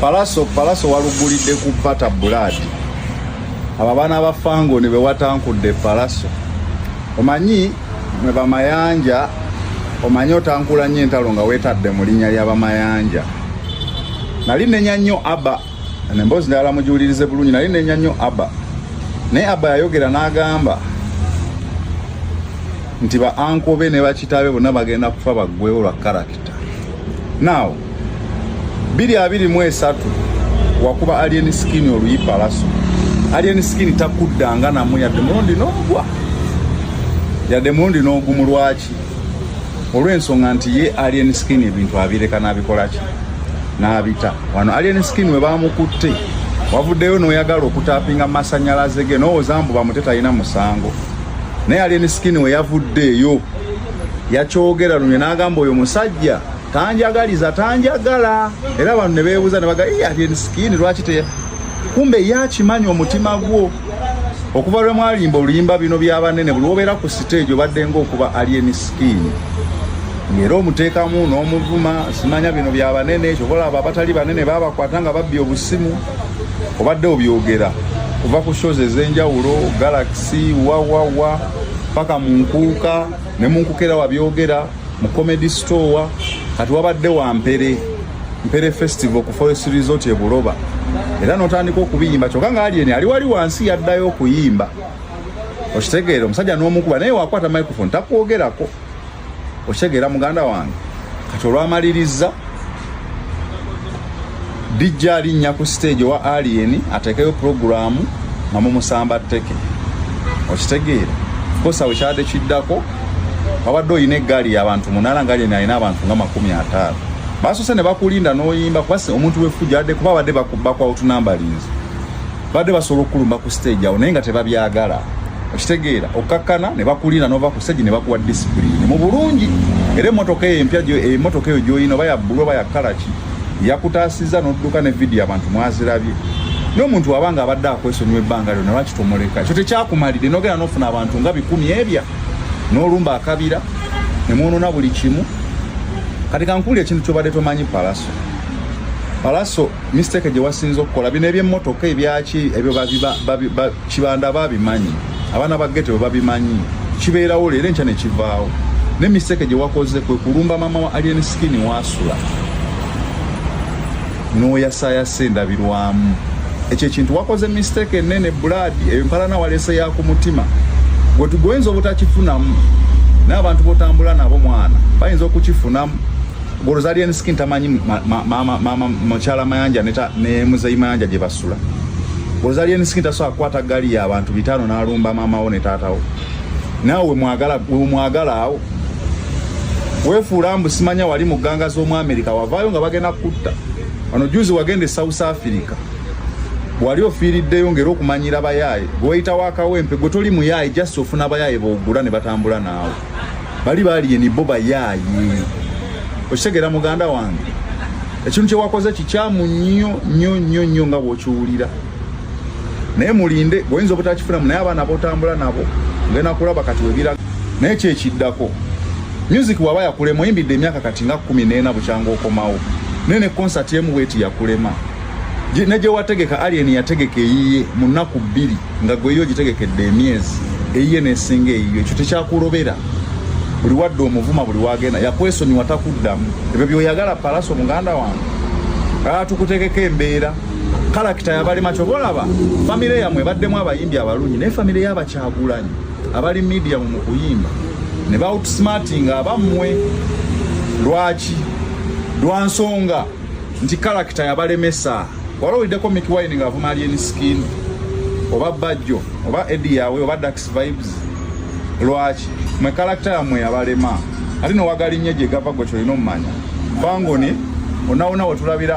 palaso palaso walugulidde ku bata buladi abo abaana ba fango ne bewatankudde palaso omanyi mwe bamayanja omanyi otankula nnyo entalo nga weetadde mu linnya lya bamayanja nali nenya nnyo aba nemboozi ndala mugiwulirize bulungi nali nenya nnyo aba naye aba yayogera n'agamba nti ba ankobe ne bakitabe bonna bagenda kufa baggwewo lwa karakita Now biri abiri mu esatu wakuba alien skin oluyi palaso alien skin takuddanga namu yadde mulundi n'ogwa yadde mulundi n'ogumu lwaki olw'ensonga nti ye alien skin ebintu abireka n'abikolaki n'abita wano alien skin we bamukutte wavuddeyo n'oyagala okutapinga masanyalaze ge n'owooza mbu bamute talina musango naye alien skin we yavuddeeyo yakyogera lunye n'agamba oyo musajja tanjagaliza tanjagala era abantu ne beebuuza ne baga ati sikini lwaki te kumbe ye akimanyi omutima gwo okuva lwe mwalimba oluyimba bino byabanene buli wobeera ku siteegi obadde ngaokuba alien sikini era omuteekamu n'omuvuma simanya bino bya banene kyobalaba abatali banene babakwata nga babbi obusimu obadde obyogera kuva ku shows ez'enjawulo galaxy wawawa paka mu nkuuka ne mu nkuuka era wabyogera mu comedy store kati wabadde wa mpere mpere festival ku forest resort e buloba era notandika okubiyimba kyokka nga alieni ali wali wansi yaddayo okuyimba okitegeera omusajja n'omukuba naye wakwata microphone takwogerako okitegeera muganda wange kati olwamalirizza dijja alinnya ku siteegi owa aliyeni ateekeyo pulogulaamu nga mumusamba tteke okitegeera kosa wekyadde kiddako wabadde olina eggaali yabantu munala nga lyeni alina abantu nga makumi ataano basose ne bakulinda n'oyimba kubasi omuntu wefujadde kuba abadde bakwawutunambalinzi badde basobola okukulumba ku stage awo naye nga tebabyagala okitegeera okkakkana ne bakulira nova ku stage ne bakuwa disipulini mu bulungi era emotoka eyo empya emotoka eyo gyoyina oba yabbulu oba yakalaki yakutaasiza n'odduka ne vidiyo abantu mwazirabye n'omuntu aba nga abadde akwesonyiwa ebbanga lyona lwaki tomuleka ekyo tekyakumalire nogenda nofuna abantu nga bikumi ebya n'olumba akabira ne mwonona buli kimu kati kankuuli ekintu kyobadde tomanyi palaso palaso mistake gye wasinza okukola bino ebyemmotoka ebyaki ebyo kibanda babimanyi abaana ba geto babimanyi kibeerawo leero enkya ne kivaawo ne mistake gye wakoze kwe kulumba maama wa alien skin waasula n'oyasaayasa endabirwamu ekyo ekintu wakoze mistake enene bulaadi eyo mpalana waleese ya ku mutima gwe tugoyinza obutakifunamu n'abantu botambula nabo mwana bayinza okukifunamu Golozalian skin tamanyi mama ma, ma, ma, ma, machala mayanja neta ne muzayi mayanja gye basula. Golozalian skin tasobola kukwata ggali y'abantu bitaano n'alumba maama wo ne taata wo. Naawe mwagala mwagala awo wefuula mbu simanya wali mu gganga z'omu Amerika wavaayo nga bagenda kukutta. Wano juzi wagenda e South Africa wali ofiiriddeyo ngeri okumanyira bayaaye gweyita wakawempe gwe toli muyaaye just ofuna bayaaye bogula ne batambula naawe. bali baliye ni bo bayaaye okitegera muganda wange ekintu kyewakoze kikyamu nnyo nnyo nnyo nnyo nga bwokiwulira naye mulinde gwoyinza obutakifunamu naye abaana botambula nabo ngenda kulaba kati webiraga naye kyekiddako music waba yakulema oyimbidde emyaka kati nga kumi neena bukyanga okomawo naye ne konsati emu bweti yakulema ne gye wategeka alien yategeka eyiye mu nnaku bbiri nga gweyo ogitegekedde emyezi eyiye nesinga eyiyo ekyo tekyakulobera buli wadde omuvuma buli wagenda yakwesonyiwa takuddamu ebyo byoyagala palaso muganda wange aa tukutegeka embeera kalakita yabalima kyoba olaba famire yamwe baddemu abayimbi abalungi naye famire yabakyagulanyi abali mediamu mu kuyimba ne bawutsmartinga abammwe lwaki lwansonga nti character yabalemesa wala olideko Mickey Wine nga avuma alien skin oba bajjo oba Eddie yawe oba Dax vibes lwaki mwe character yamwe yabalema ate nowagala innye gye gava gwe kyolina omumanya bangoni onawona wetulabira